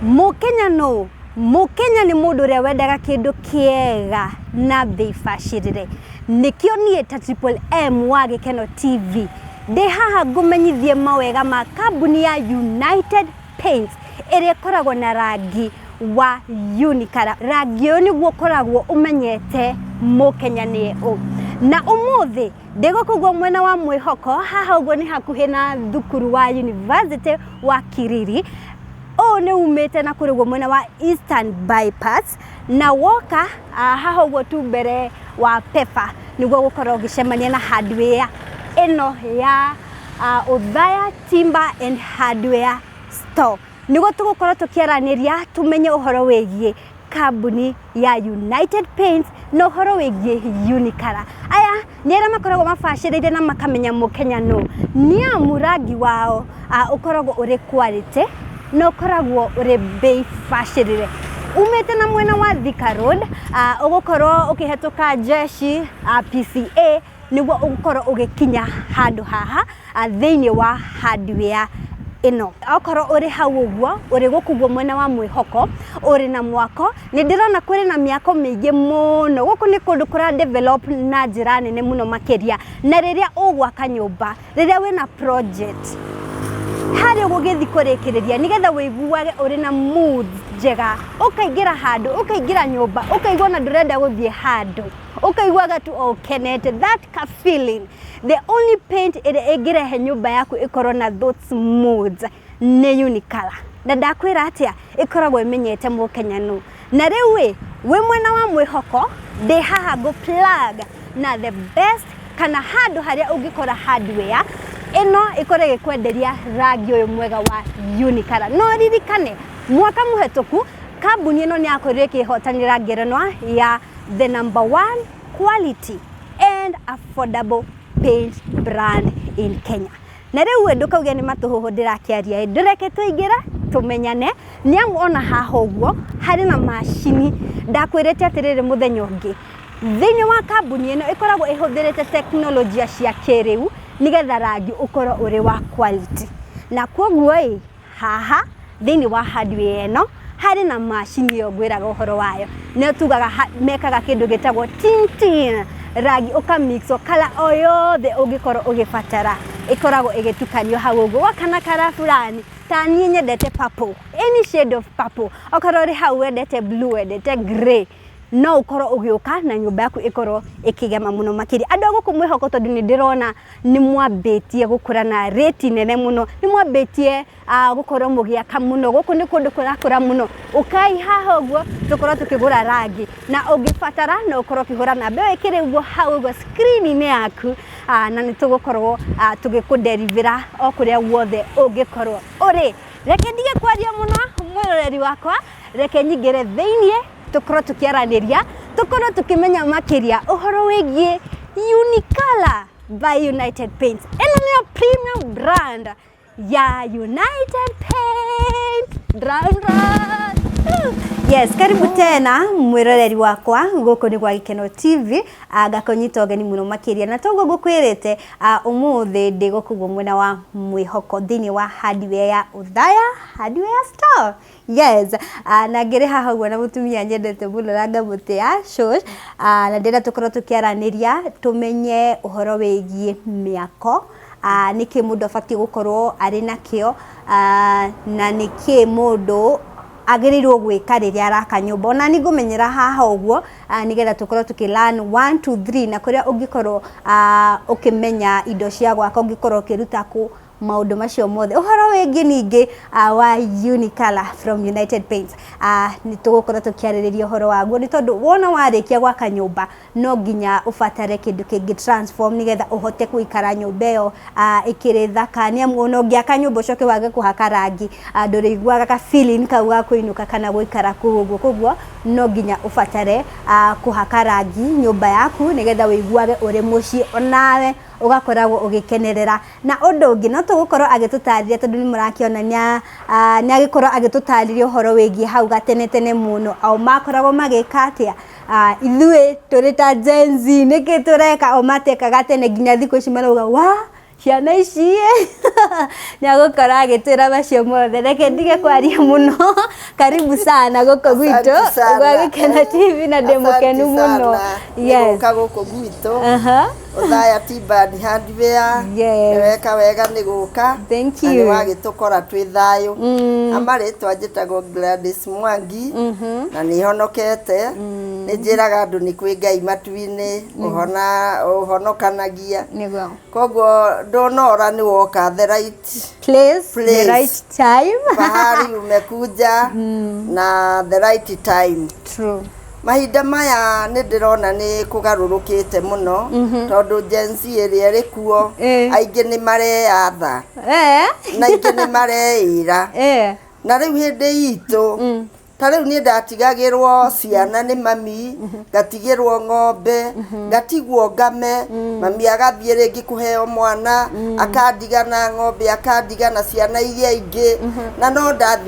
Mũkenya nũũ? Mũkenya nĩ mũndũ ũrĩa wendaga kĩndũ kĩega na mbei bacĩrĩre. Nĩkĩo niĩ ta Triple M wa Gĩkeno TV ndĩ haha ngũmenyithie mawega ma kambuni ya United Paints ĩrĩa ĩkoragwo na rangi wa Unikara. Rangi ũyũ nĩguo ũkoragwo ũmenyete Mũkenya nĩ ũ. Na ũmũthĩ ndĩ gũkũ guo mwena wa mwĩhoko, haha ũguo nĩ hakuhĩ na thukuru wa yunivasĩtĩ wa Kiriri. ũũ nĩ umĩte na kũrĩguo mwena wa Eastern Bypass na woka ah, haha ũguo tu mbere wa Pepa nĩguo gũkorwo ũgĩcemania na hardware ĩno ya ah, Othaya Timber and Hardware Store nĩguo tũgũkorwo tũkĩaranĩria tũmenye ũhoro wĩgiĩ kambuni ya United Paints na ũhoro wĩgiĩ Unikara. Aya nĩ arĩa makoragwo mabacĩrĩire na makamenya mũkenya nũ, nĩ amu rangi wao ũkoragwo ũrĩ quality na ũkoragwo ũrĩ mbei bacĩrĩre. Umĩte na mwena wa Thika Road ũgũkorwo ũkĩhetũka Jeshi, PCA. nĩguo ũkorwo ũgĩkinya handũ haha thĩinĩ wa hardware ĩno. Okorwo ũrĩ hau ũguo, ũrĩ gũkũ ũguo mwena wa mwĩhoko, ũrĩ na mwako, nĩ ndĩrona kũrĩ na mĩako mĩingĩ mũno. Gũkũ nĩ kũndũ kũra develop na njĩra nene mũno makĩria. Na rĩrĩa ũgwaka nyũmba, rĩrĩa wĩna project, harĩa ũgũgĩthiĩ kũrĩkĩrĩria nĩ getha ũiguage ũrĩ na mood njega, ũkaingĩra handũ, ũkaingĩra nyũmba, ũkaigua ona ndũrenda gũthiĩ handũ. ũkaiguaga tu o ũkenete that ka feeling the only paint ĩrĩa ĩngĩrehe nyũmba yaku ĩkorwo na those moods nĩ unikala na ndakwĩra atĩa ĩkoragwo ĩmenyete mũkenya nũ na rĩu ĩ wĩ mwena wa mwĩhoko ndĩ haha ngũ plug na the best kana handũ harĩa ũngĩkora hardware ĩno ĩkorwo ĩgĩkwenderia rangi ũyũ mwega wa unikala no ririkane mwaka mũhetũku kambuni ĩno nĩ yakorirwo ĩkĩhotanĩra ngerenwa ya the number one quality and affordable paint brand in Kenya. Na rĩu we ndũkauge nĩ matũhũhũ ndĩrakĩaria ĩ, ndĩreke tũingĩre tũmenyane nĩ amu ona haha ũguo harĩ na macini ndakwĩrĩte atĩrĩrĩ mũthenya ũngĩ thĩinĩ wa kambuni ĩno ĩkoragwo ĩhũthĩrĩte teknolojia cia kĩrĩu nĩgetha rangi ũkorwo ũrĩ wa quality na kwoguo ĩ Haha thĩinĩ wa hardware ĩno harĩ na macini ĩyo ngwĩraga ũhoro wayo nĩyo tugaga ha- mekaga kĩndũ gĩtagwo tintin rangi ũkamixo kala o yothe ũngĩkorwo ũgĩbatara ĩkoragwo ĩgĩtukanio hau ũguo wakana kara fulani ta niĩ nyendete purple any shade of purple okorwo ũrĩ hau wendete blue wendete grey no ũkorwo ũgĩũka na nyũmba yaku ĩkorwo ĩkĩgema mũno makĩria andũ a gũkũ mwĩhoko tondũ nĩ ndĩrona nĩ mwambĩtie gũkũra na rĩti nene mũno nĩ mwambĩtie ah, gũkorwo mũgĩaka mũno gũkũ nĩ kũndũ kũrakũra mũno ũkai haha ũguo tũkorwo tũkĩgũra rangi na ũngĩbatara no ũkorwo ũkĩhũra namba ĩyo ĩkĩrĩ ũguo hau ũguo screen-inĩ yaku ah, na nĩ tũgũkorwo ah, tũgĩkũnderibĩra o kũrĩa guothe ũngĩkorwo ũrĩ reke ndige kwaria mũno mwĩroreri wakwa Reke nyingĩre thĩinĩ tũkorwo tũkĩaranĩria, tũkorwo tũkĩmenya makĩria ũhoro wĩgiĩ Unicolor by United Paints. Ĩno nĩyo premium brand ya United Paints. Drum, drum. Yes, karibu tena mwĩroreri wakwa gũkũ nĩ gwa Gĩkeno TV ah, ngakũnyita ũgeni mũno makĩria na toguo ngũkwĩrĩte ah, ũmũthĩ ndĩ gũkũ guo mwena wa mwĩhoko thĩinĩ wa hardware ya Uthaya hardware store Yes, ah, na ngĩrĩ haha ũguo na mũtumia nyendete mũno na ngamũtĩa Shosh, ah, na ndĩrenda tũkorwo tũkĩaranĩria tũmenye ũhoro wĩgiĩ mĩako, ah, nĩkĩ mũndũ abatiĩ gũkorwo arĩ nakĩo, ah, na nĩkĩ mũndũ agĩrĩirwo gwĩka rĩrĩa araka nyũmba. Ona niĩ ngũmenyera haha ũguo, ah, nĩgetha tũkorwo tũkĩ learn one, two, three na kũrĩa ũngĩkorwo ah, ũkĩmenya indo cia gwaka ũngĩkorwo ũkĩruta kũ. maũndũ macio mothe ũhoro wĩngĩ ningĩ uh, wa Unicolor from United Paints uh, nĩ tũgũkorwo tũkĩarĩrĩria ũhoro waguo nĩ tondũ wona warĩkia gwaka nyũmba no nginya ũbatare kĩndũ kĩngĩ transform nĩgetha ũhote gũikara nyũmba ĩyo uh, ĩkĩrĩ thaka nĩ amu ona ũngĩaka nyũmba ũcoke wage kũhaka rangi uh, ndũrĩiguaga ka feeling kau ga kũinũka kana gũikara kũu ũguo koguo no nginya ũbatare uh, kũhaka rangi nyũmba yaku nĩgetha wĩiguage ũrĩ mũciĩ onawe ũgakoragwo ũgĩkenerera Na ũndũ ũngĩ, no tũgũkorwo agĩtũtarĩria tondũ nĩ mũrakĩona nĩ nĩ agĩkorwo agĩtũtarĩria ũhoro wĩgiĩ hau gatene tene mũno, o makoragwo magĩka atĩa, ithuĩ tũrĩ ta Gen-Z nĩkĩ tũreka, o matekaga tene nginya thikũ ici marauga waa, ciana ici ĩ, nĩ agũkorwo agĩtwĩra macio mothe, reke ndige kwaria mũno, karibu sana gũkũ gwitũ, gwa Gĩkeno TV na ndĩ mũkenu mũno. Yes. Nĩ gũka gũkũ gwitũ. Aha. Othaya ti bad hardware Yes. weka wega nĩ gũka Thank na nĩ you. wagĩtũkora twĩ thayũ Mm. ama rĩtwa njĩtagwo Gladys Mwangi Mhm. na nĩ honokete nĩ njĩraga andũ nĩ kwĩ ngai matu-inĩ ũhona ũhonokanagia Nĩguo. koguo ndonora nĩ woka the right Place, the Place. right time. pahali umekuja na the right time True. Mahinda maya nĩ ndĩrona nĩ kũgarũrũkĩte mũno tondũ Gen Z ĩrĩa ĩrĩ kuo Eh. aingĩ nĩ mareyatha Eh. na aingĩ nĩ mareĩra Eh. na rĩu hĩndĩ itũ ta rĩu niĩ ndatigagĩrwo ciana nĩ mami ngatigĩrwo ng'ombe ngatigwo ngame mami agathiĩ rĩngĩ kũheo mwana akandiga na ng'ombe akandiga na ciana iria ingĩ na no ndathiĩ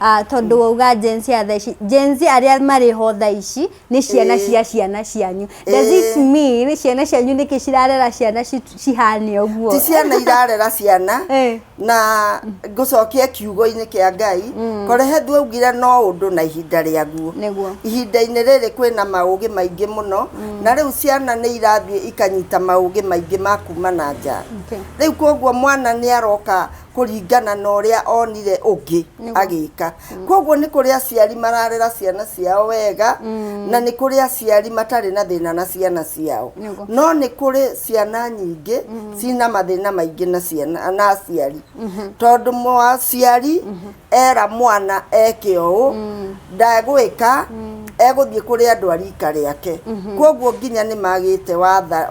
Ah, tondå wauga Gen Z ya thaa ici Gen Z arĩa marĩ ho thaa ici nĩ ciana Ĩĩ. cia ciana cianyu does Ĩĩ. it mean ciana cianyu nĩkĩ cirarera ciana ci- cihane ũguo ti ciana irarera ciana Eh. na ngũcokia kiugo-inĩ kĩa ngai korehe ndwaugire no ũndũ na ihinda rĩaguo Nĩguo. ihinda-inĩ rĩrĩ kwĩna maũgĩ maingĩ mũno na rĩu ciana nĩ irathiĩ ikanyita maũgĩ maingĩ ma kuma na nja Okay. rĩu koguo mwana nĩ aroka kũringana na ũrĩa onire ũngĩ agĩka kwoguo nĩ kũrĩ aciari mararera ciana ciao wega mm. na nĩ kũrĩ aciari matarĩ na thĩna na ciana ciao no nĩ kũrĩ ciana nyingĩ mm. cina mathĩna maingĩ na ciana na aciari mm -hmm. tondũ mũaciari mm -hmm. era mwana eke ũũ mm. ndagwĩka mm. egũthiĩ kũrĩ andũ a rika rĩake mm-hmm. kwoguo nginya nĩ magĩte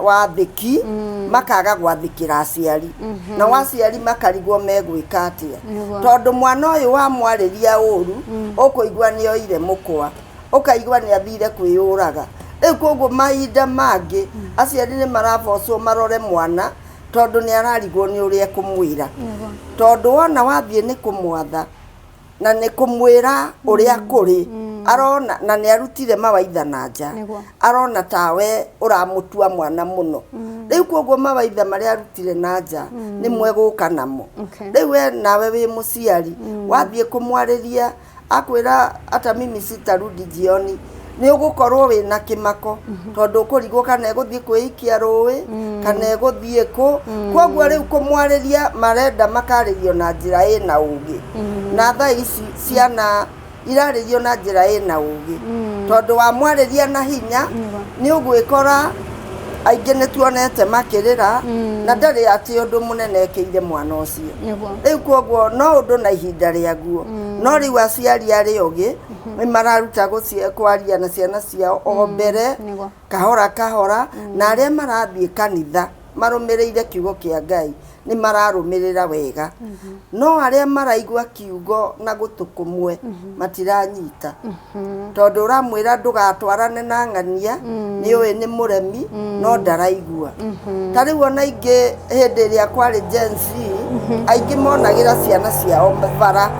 wathĩki mm. makaga gwathĩkĩra aciari mm-hmm. na waciari makarigwo megwĩka atĩa tondũ mwana ũyũ wamwarĩria ũru mm. ũkũigua nĩ oire mũkwa ũkaigua nĩ athire kwĩyũraga rĩu kwoguo mahinda mangĩ aciari nĩ marabocwo marore mwana tondũ nĩ ararigwo nĩ ũrĩa ekũmwĩra tondũ wona wathiĩ nĩ kũmwatha na nĩ kũmwĩra ũrĩa kũrĩ arona na nĩ arutire mawaitha na nja Nĩguo. arona tawe ũramũtua mwana mũno rĩu kwoguo mawaitha marĩa arutire na nja nĩ mwegũka namo Okay. rĩu we nawe wĩ mũciari wathiĩ kũmwarĩria akwĩra ata mimi sitarudi jioni nĩ ũgũkorwo wĩ na kĩmako tondũ ũkũrigwo kana egũthiĩ kwĩikia rũĩ kana egũthiĩ kũ koguo rĩu kũmwarĩria marenda makarĩrio na njĩra ĩ na ũgĩ na thaa ici ciana irarĩrio na njĩra ĩ na ũgĩ tondũ wamwarĩria na hinya nĩ ũgwĩkora aingĩ nĩ tuonete makĩrĩra mm. na ndarĩ atĩ ũndũ mũnene ekĩire mwana ũcio rĩu kwoguo no ũndũ na ihinda rĩaguo mm. no rĩu aciari arĩ ũgĩ mm-hmm. nĩ mararuta kwaria na ciana ciao o mm. mbere kahora kahora mm. na arĩa marathiĩ kanitha marũmĩrĩire kiugo kĩa ngai nĩ mararũmĩrĩra wega no arĩa maraigua kiugo na gũtũ kũmwe matiranyita tondũ ũramwĩra ndũgatwarane na ng'ania nĩ ũĩ nĩ mũremi no ndaraigua ta rĩu ona ingĩ hĩndĩ ĩrĩa kwarĩ Gen Z aingĩ monagĩra ciana ciao bara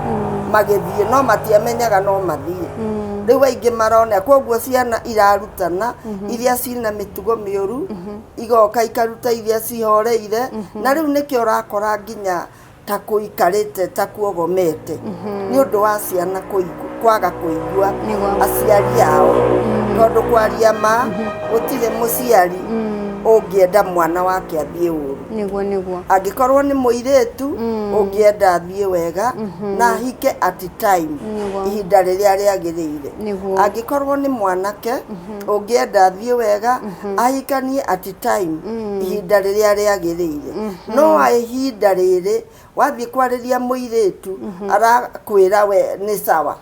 magĩthiĩ no matiamenyaga no mathiĩ rĩu aingĩ marona koguo ciana irarutana iria cina mĩtugo mĩũru igoka ikaruta iria cihoreire mhm. na rĩu nĩkĩo ũrakora nginya ta kũikarĩte ta kuogomete mhm. nĩ ũndũ wa ciana kwaga kũigua aciari ao mhm. tondũ kwaria ma gũtirĩ mũciari ũngĩenda mwana wake athiĩ ũru nĩguo nĩguo angĩkorwo nĩ mũirĩtu mm. ũngĩenda athiĩ wega mm-hmm. na hike at time ihinda rĩrĩa rĩagĩrĩire angĩkorwo nĩ mwanake mm-hmm. ũngĩenda athiĩ wega ahikanie at time ihinda rĩrĩa rĩagĩrĩire no a ihinda rĩrĩ wathiĩ kwarĩria mũirĩtu arakwĩra we nĩ sawa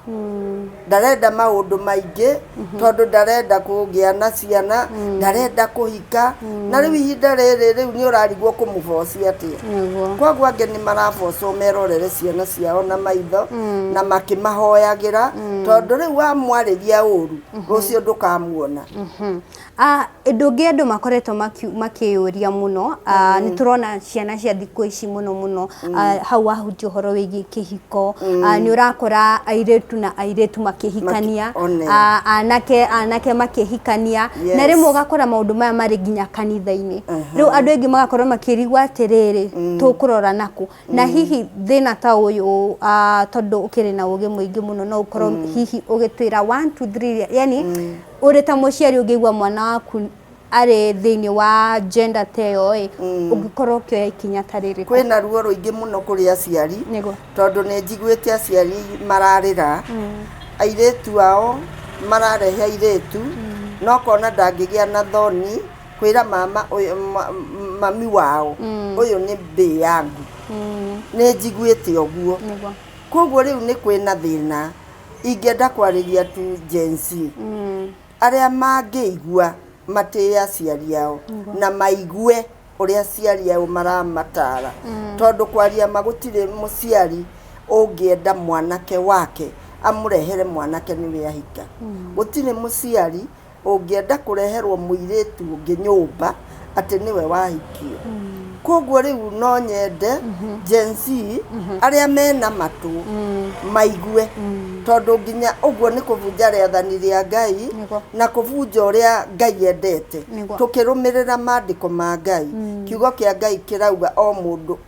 ndarenda maũndũ maingĩ tondũ ndarenda kũgĩa na ciana ndarenda kũhika na rĩu ihinda rĩrĩ rĩu nĩ ũrarigwo kũmũboci atĩa Nĩguo. koguo angĩ nĩ marabocwo merorere ciana ciao na maitho na makĩmahoyagĩra tondũ rĩu wamwarĩria ũru rũciũ ndũkamuona Mhm. Ah, Ũndũ ũngĩ andũ makoretwo maki- makĩyũria mũno ah, nĩ tũrona ciana cia thikũ ici mũno mũno ah, hau wahutia ũhoro wĩgiĩ kĩhiko ah, nĩ ũrakora airĩtu na airĩtu makĩhikania Maki- one. ah, anake anake makĩhikania Yes. na rĩmwe ũgakora maũndũ maya marĩ nginya kanitha-inĩ rĩu andũ aingĩ magakorwo makĩrigwo atĩrĩrĩ tũkũrora nakũ Na hihi thĩna ta ũyũ ah, tondũ ũkĩrĩ na ũgĩ mũingĩ mũno no ũkorwo hihi ũgĩtwĩra one, two, three, iria- yani ũrĩ ta mũciari ũngĩigua mwana waku arĩ thĩinĩ wa gender ta ĩyo ĩ ũngĩkorwo ũkĩoya ikinya ta rĩrĩkũ kwĩna ruo rũingĩ mũno kũrĩ aciari Nĩguo. tondũ nĩ njiguĩte aciari mararĩra airĩtu ao mararehe airĩtu no kona ndangĩgĩa na thoni kwĩra mama ũyũ ma- m- mami wao ũyũ nĩ mbĩ yangu nĩ njiguĩte ũguo Nĩguo. koguo rĩu nĩ kwĩna thĩna ingĩenda kwarĩria tu Gen Z arĩa mangĩigua matĩe aciari ao na maigue ũrĩa aciari ao maramatara tondũ kwaria ma gũtirĩ mũciari ũngĩenda mwanake wake amũrehere mwanake nĩwe ahika gũtirĩ mũciari ũngĩenda kũreherwo mũirĩtu ũngĩ nyũmba atĩ nĩwe wahikio. Koguo rĩu no nyende Gen Z arĩa mena matũ maigue, tondũ nginya ũguo nĩ kũbunja rĩathani rĩa Ngai Nĩguo. na kũbunja ũrĩa Ngai endete, Nĩguo. tũkĩrũmĩrĩra maandĩko ma Ngai. Kiugo kĩa Ngai kĩrauga o mũndũ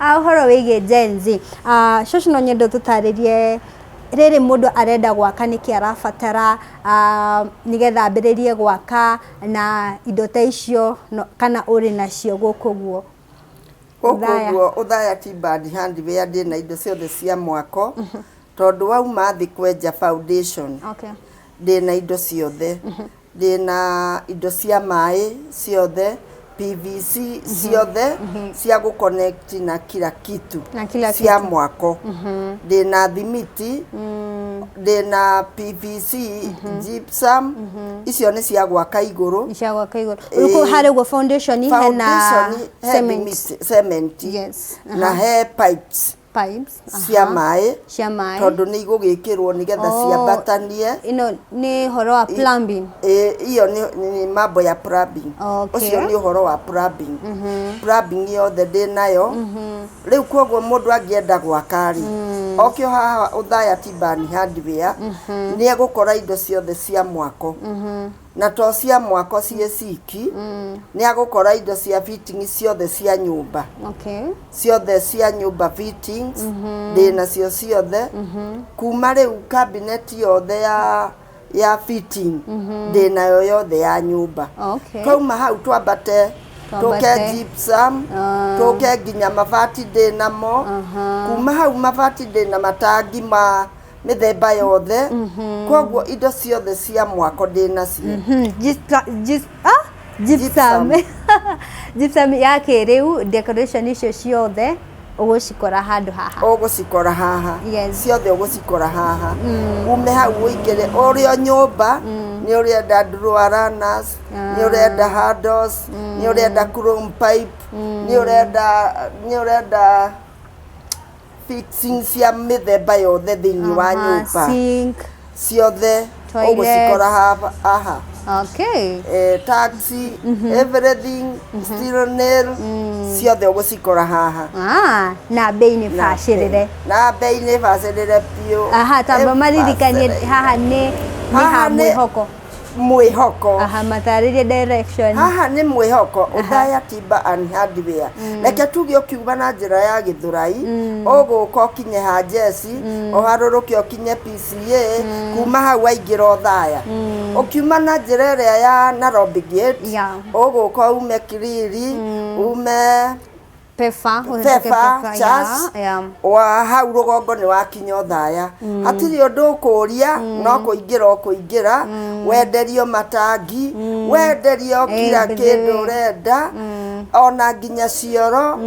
Ũhoro wĩgiĩ Gen Z, cũcũ no nyende ũtũtarĩrie rĩrĩ mũndũ arenda gwaka nĩkĩ arabatara nĩgetha ambĩrĩrie gwaka na indo ta icio kana ũrĩ nacio gũkũ ũguo? Gũkũ ũguo Othaya Tea Bad Hardware ndĩ na indo ciothe cia mwako, tondũ wauma thĩ kwenja foundation ndĩ na indo ciothe. Thĩna indo cia maĩ ciothe PVC ciothe cia gũ connect na kila kitu Na kila cia kitu. mwako thĩna thimiti thĩna PVC gypsum icio nĩ cia gwaka igũrũ Nishagwaka iguru. Uko Eh, hale ugo foundation hena foundation he cement. thimiti- cement Yes, na he pipes pipes cia aha, maĩ cia maĩ tondũ nĩ igũgĩkĩrwo nĩgetha Oh. ciambatanie ino nĩ horo wa plumbing Ĩ- iyo nĩ- nĩ mambo ya plumbing Okay. ũcio nĩ ũhoro wa plumbing plumbing yothe ndĩ nayo rĩu kwoguo mũndũ angĩenda gwaka rĩ okio haha ũthaya tibani handware nĩ egũkora indo ciothe cia mwako na to cia mwako ciĩ ciki mm. nĩ agũkora indo cia fitting ciothe cia nyũmba okay. ciothe cia nyũmba fittings mm -hmm. ndĩ nacio ciothe mm -hmm. kuma rĩu cabinet yothe ya ya fitting mm -hmm. ndĩ nayo yothe ya nyũmba okay. twauma hau twambate tũke gypsum ah. tũke nginya mabati ndĩ namo kuma hau mabati ndĩ na matangi ma mĩthemba yothe koguo indo ciothe cia mwako ndĩ nacio Mhm, gypsa- gyps- ah, gypsum. Gypsum ya kĩrĩu decoration icio ciothe ũgũcikora handũ haha ũgũcikora haha Yes. ciothe ũgũcikora haha ume hau ũingĩre ũrĩa nyũmba nĩ ũrenda ndurwaranas nĩ ũrenda handos nĩ ũrenda chrome pipe nĩ ũrenda nĩ ũrenda fitting cia mĩthemba yothe thĩinĩ wa Aha, nyũmba sink. ciothe Toilet. ũgũcikora haha- haha Okay. Eh, taxi everything still nail ciothe ũgũcikora haha Ah, na bei nĩ Na- bacĩrĩre. na bei nĩ bacĩrĩre biũ Aha, tamba Ĩbacĩrĩre. maririkanie haha nĩ nĩ ha Haha nĩ- mwĩhoko. mwĩhoko aha matarĩrie direction haha nĩ mwĩhoko ũthaya timba and hardware mm. reke tuge ũkiuga na njĩra ya gĩthũrai mm. ũgũka ũkinye ha jesi mm. ũharũrũke ũkinye pca kuma hau waingĩra ũthaya ũkiuma na njĩra ĩrĩa ya narobi gate ũgũka ume kiriri ume Pefa, ũhĩtũke Pefa, Pefa, Chas, ya, ya. wa hau rũgongo nĩ wakinya ũthaya hatirĩ ũndũ ũkũria no kũingĩra ũkũingĩra wenderio matangi wenderio kira mbithi. kĩndũ ũrenda ona nginya cioro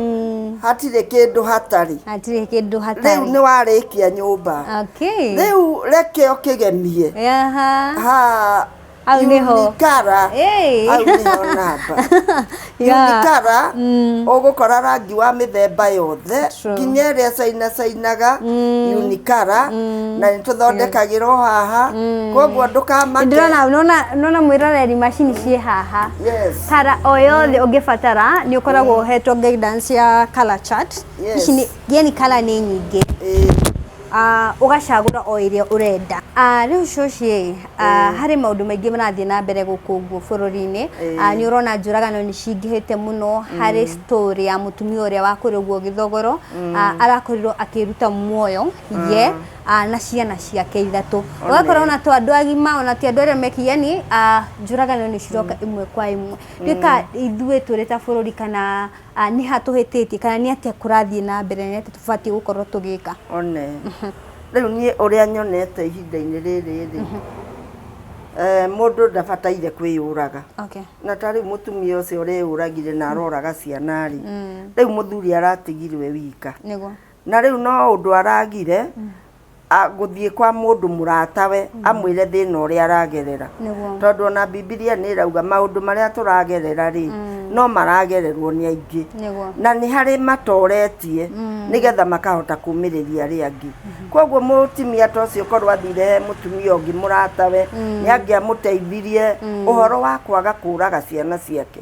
hatirĩ kĩndũ hatarĩ Hatirĩ kĩndũ rĩu hatarĩ. nĩ warĩkia nyũmba Okay. rĩu reke ũkĩgemie Yaha. ha Hau nĩho. Unikara. Hey. Hau nĩho namba. Yeah. Unikara, ũgũkora rangi wa mĩthemba yothe True. nginya ĩrĩa cainacainaga unikara na nĩ tũthondekagĩrwo haha koguo ndũkamake ndĩrona nona nona mwĩroreri macini ciĩ haha Yes. tara o yothe ũngĩbatara nĩ ũkoragwo ũhetwo guidance ya color chart Yes. ici nĩ yani color nĩ nyingĩ Ĩĩ. aah ũgacagũra o ĩrĩa ũrenda. Rĩu cũcĩ ĩ, harĩ maũndũ maingĩ marathiĩ na mbere gũkũ ũguo bũrũri-inĩ, nĩ ũrona njũragano nĩ cingĩhĩte mũno, harĩ story ya mũtumia ũrĩa wa kũrĩa ũguo gĩthogoro, arakorirwo akĩĩruta muoyo ye na ciana ciake ithatũ. Ũgakora ona to andũ agima, ona ti andũ arĩa me ki yaani njũragano nĩ ciroka ĩmwe kwa ĩmwe. Nĩ ta ithuĩ tũrĩ ta bũrũri kana... Nĩha tũhĩtĩtie kana nĩ atĩa kũrathiĩ na mbere na nĩ atĩa tũbatiĩ gũkorwo tũgĩka? One. Rĩu niĩ ũrĩa nyonete ihinda-inĩ rĩrĩ rĩ, mũndũ ndabataire kwĩyũraga. Na ta rĩu mũtumia ũcio ũreyũragire na aroraga ciana rĩ, rĩu mũthuri aratigirwo e wika. Na rĩu no ũndũ aragire. a- gũthiĩ kwa mũndũ mũratawe amwĩre thĩna ũrĩa aragerera Nĩguo. tondũ ona bibilia nĩ ĩrauga maũndũ marĩa tũragerera rĩ no maragererwo nĩ aingĩ Nĩguo. na nĩ harĩ matoretie nĩgetha makahota kumĩrĩria arĩa angĩ koguo mũtumia ta ũcio korwo athire he mũtumia ũngĩ mũratawe nĩ angĩamũteithirie ũhoro wa kwaga kũraga ciana ciake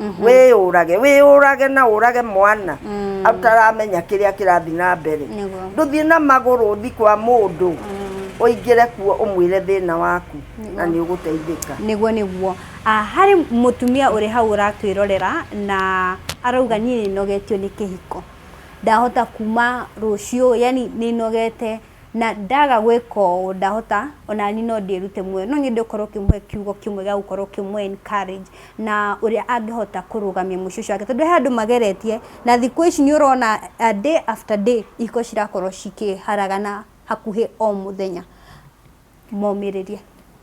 mhm. wĩyũrage wĩyũrage na ũrage mwana mm. ataramenya kĩrĩa kĩrathiĩ na mbere ndũthiĩ na magũrũ ũthi kwa mũndũ mm. ũingĩre kuo ũmwĩre thĩna waku na nĩ ũgũteithĩka nĩguo nĩguo ah, harĩ mũtumia ũrĩ hau ũratwĩrorera na arauga niĩ nĩnogetio nĩ kĩhiko ndahota kuma rũciũ yani nĩnogete na ndaga gwĩka ũũ ndahota onani no ndĩrute muoyo, no nyende ũkorwo ũkĩmũhe kiugo kĩmwe gĩa gũkorwo ũkĩmũ encourage na ũrĩa angĩhota kũrũgamia mũciĩ ũcio wake, tondũ he andũ mageretie na thikũ ici nĩ ũrona day after day ihiko cirakorwo cikĩharagana hakuhĩ o mũthenya. momĩrĩria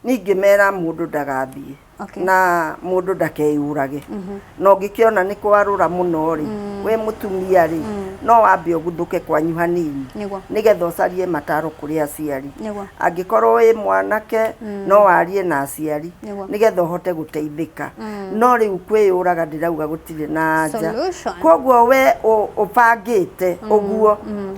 ningĩ mera mũndũ ndagathiĩ okay. na mũndũ ndakeyũrage mm -hmm. na ũngĩkĩona nĩ kwarũra mũno rĩ mm. we mũtumia rĩ mm. no wambe ũguthũke kwanyu hanini nĩgetha ũcarie mataro kũrĩ aciari angĩkorwo wĩ mwanake mm. no warie na aciari nĩgetha ũhote gũteithĩka mm. no rĩu kwĩyũraga ndĩrauga gũtirĩ na anja koguo we ũbangĩte mm. ũguo mm.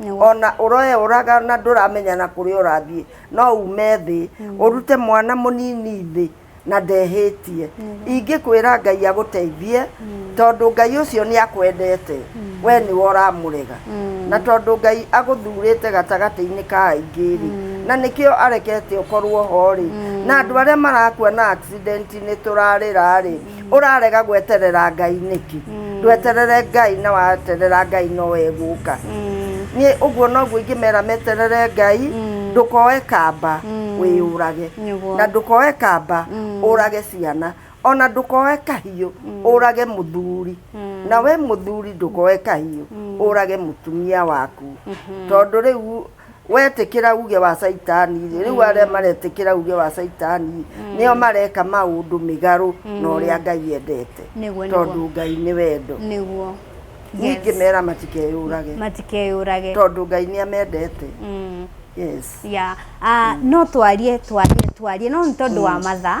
Nĩguo. ona ũroeũraga na ndũramenya na kũrĩa ũrathiĩ no ume thĩ ũrute mwana mũnini thĩ na ndehĩtie ingĩkwĩra ngai agũteithie tondũ ngai ũcio nĩ akwendete we nĩwe ũramũrega na tondũ ngai agũthurĩte gatagatĩ-inĩ ka aingĩ rĩ na nĩkĩo arekete ũkorwo ho rĩ na andũ arĩa marakua na accident -inĩ tũrarĩra rĩ urarega gweterera ngai niki ndweterere ngai na waterera ngai no eguka ni uguo noguo ingimera meterere ngai ndukoe kamba wiyurage Nĩguo. na ndukoe kamba urage ciana ona ndukoe kahiu urage muthuri na we muthuri ndukoe kahiu urage mutumia waku tondu riu wetĩkĩra uge wa caitani rĩ rĩu arĩa maretĩkĩra uge wa caitani nĩo mareka maũndũ mĩgarũ na ũrĩa ngai endete Nĩguo, nĩguo. tondũ ngai nĩ wendo nĩguo ningĩ mera matikeyũrage matikeyũrage tondũ ngai nĩ amendete Mm. yes ya ah, no twarie twarie twarie no nĩ tondũ wa mathaa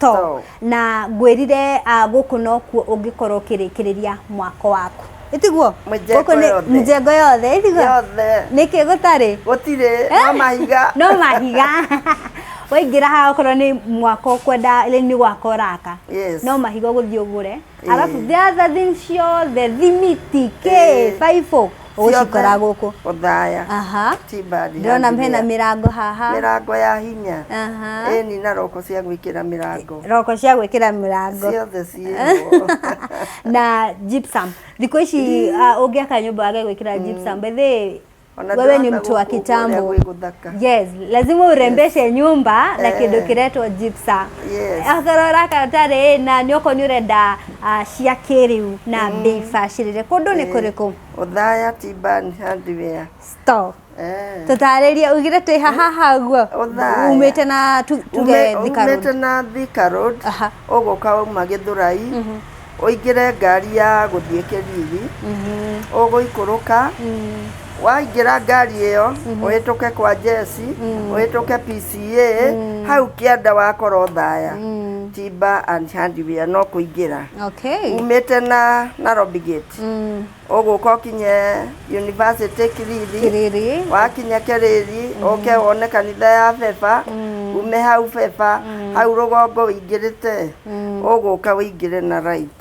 to Too. na ngwĩrire ah, gũkũ nokuo ũngĩkorwo ũkĩrĩkĩrĩria mwako waku ĩtiguo Mĩjengo Gũkũ nĩ- yothe. mĩjengo yothe ĩtiguo Yothe. nĩkĩ gũtarĩ Gũtirĩ no mahiga. no mahiga waingĩra haha okorwo nĩ mwako kwenda rĩu nĩ gwaka ũraka Yes. no mahiga ũgũthiĩ ũgũre Eh. arabu the other thing ciothe thimiti kĩ Eh. baibũ ũgũcikora gũkũ Othaya aha Timbani ndĩrona hena mĩrango haha mĩrango ya hinya aha ĩni na roko cia gwĩkĩra mĩrango roko cia gwĩkĩra mĩrango ciothe ciĩho na gypsum thikũ ici uh, ũngĩaka nyũmba wage gwĩkĩra gypsum by the way, Ona wewe ni ndĩrona mtu wa gũkũ ũrĩa kitambo gwĩ gũthaka. yes lazima urembeshe nyumba na Eh. kindu kiretwo gypsum Yes. akorwo uraka utarĩ na nĩ okorwo nĩ ũrenda cia kĩrĩu na mm. mbei bacĩrĩre kũndũ nĩ eh, kũrĩkũ ũthaya tiban hardware store eh. tũtarĩrie ugire twĩ hahaha guo umĩte na tuge thikarumĩte na thika road ũgũka uma gĩthũrai mhm. ũingĩre ngari ya gũthiĩ kĩriri mhm. ũgũikũrũka mm. waingĩra ngari ĩyo mhm. ũhĩtũke kwa jesi mhm. ũhĩtũke pca mhm. hau kĩanda wakoro thaya timba and handware no kũingĩra umĩte na narobi gate ũgũka ũkinye university kiriri wakinya kĩrĩri ũke wone kanitha ya beba ume hau beba hau rũgongo ũingĩrĩte ũgũka ũingĩre na right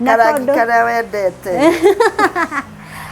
Na karangi tondũ- karĩa wendete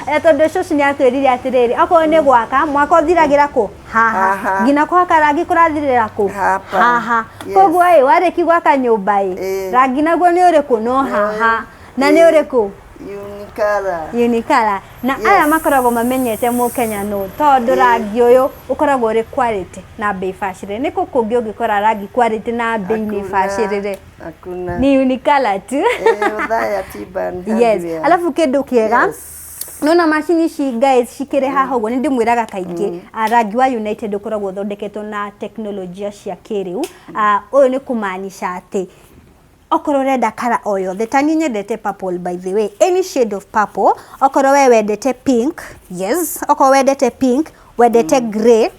Eh, tondũ cũcũ nĩ atwĩrire atĩrĩrĩ okorwo nĩ gwaka mwaka ũthiragĩra kũ haha Haha. nginya kũhaka rangi kũrathirĩra kũ Hapa. haha Yes. koguo ĩ warĩki gwaka nyũmba ĩ Ĩ. rangi naguo nĩ ũrĩkũ no haha na nĩ Ĩ. ũrĩkũ unikara unikara na Yes. aya makoragwo mamenyete mũkenya nũ tondũ Ĩ. rangi ũyũ ũkoragwo ũrĩ quality na mbei bacĩrĩre nĩ kũ kũngĩ ũngĩkora rangi quality na mbei nĩ Hakuna. bacĩrĩre Hakuna. ni unikala tu Eh, Othaya Tiban yes Hardware. alafu kindu kiega Yes. nona macini ici guys cikĩrĩ haha ũguo nĩ ndĩmwĩraga kaingĩ ah, rangi wa united ũkoragwo ũthondeketwo na teknolojia cia kĩrĩu Ah, ũyũ nĩ kũmaanisha atĩ okorwo ũrenda kara o yothe ta niĩ nyendete purple by the way any shade of purple okorwo we wendete pink yes okorwo wendete pink wendete grey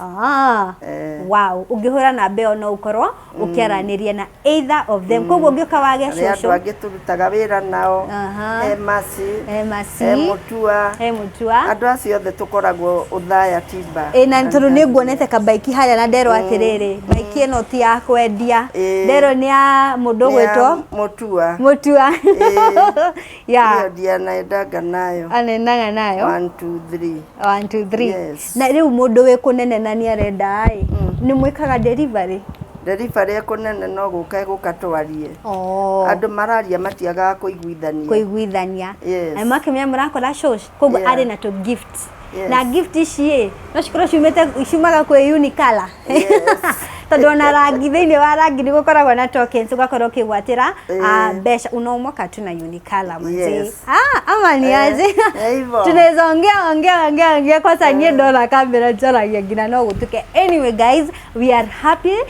Ah, Eh. wow ũngĩhũra namba ĩyo no ũkorwo ũkĩaranĩria na either of them koguo ũngĩũka wage nĩ andũ cũcũ angĩ tũrutaga wĩra nao Aha. he maci he maci he mũtua he mũtua andũ acio othe tũkoragwo ũthaya timba Ĩ, na tondå nä nguonete kambaiki harä a na nderwo atä rä rä mbaiki ä no ti ya kwendia Ĩ. nderwo nä ya må ndå gwä two mũtua må tua Ĩ. Yeah. Hiyo ndiye anaendaga nayo anendaga nayo one two three one two three Yes. na rĩu mũndũ wĩ kũnene na nĩ arenda ĩ nĩ mwĩkaga delivery delivery ekũnene no gũka egũka twarie oh. andũ mararia matiagaga kũiguithania kũiguithania Yes. na makĩmenya mũrakora shosh koguo Yeah. arĩ na tũ gift Yes. na gift ici ĩ no cikorwo ciumĩte ciumaga kwĩ unikala Yes. tondũ ona rangi thĩinĩ wa rangi nĩ gũkoragwo na tokens ũgakorwo ũkĩgwatĩra ah, Eh. mbeca unaomoka tu na unikala manzi Yes. ah, ama ni Eh, aje eh, hivyo. tunaweza ongea ongea ongea ongea kwanza nyie ndona kamera njaragia nginya no gũtuke anyway guys we are happy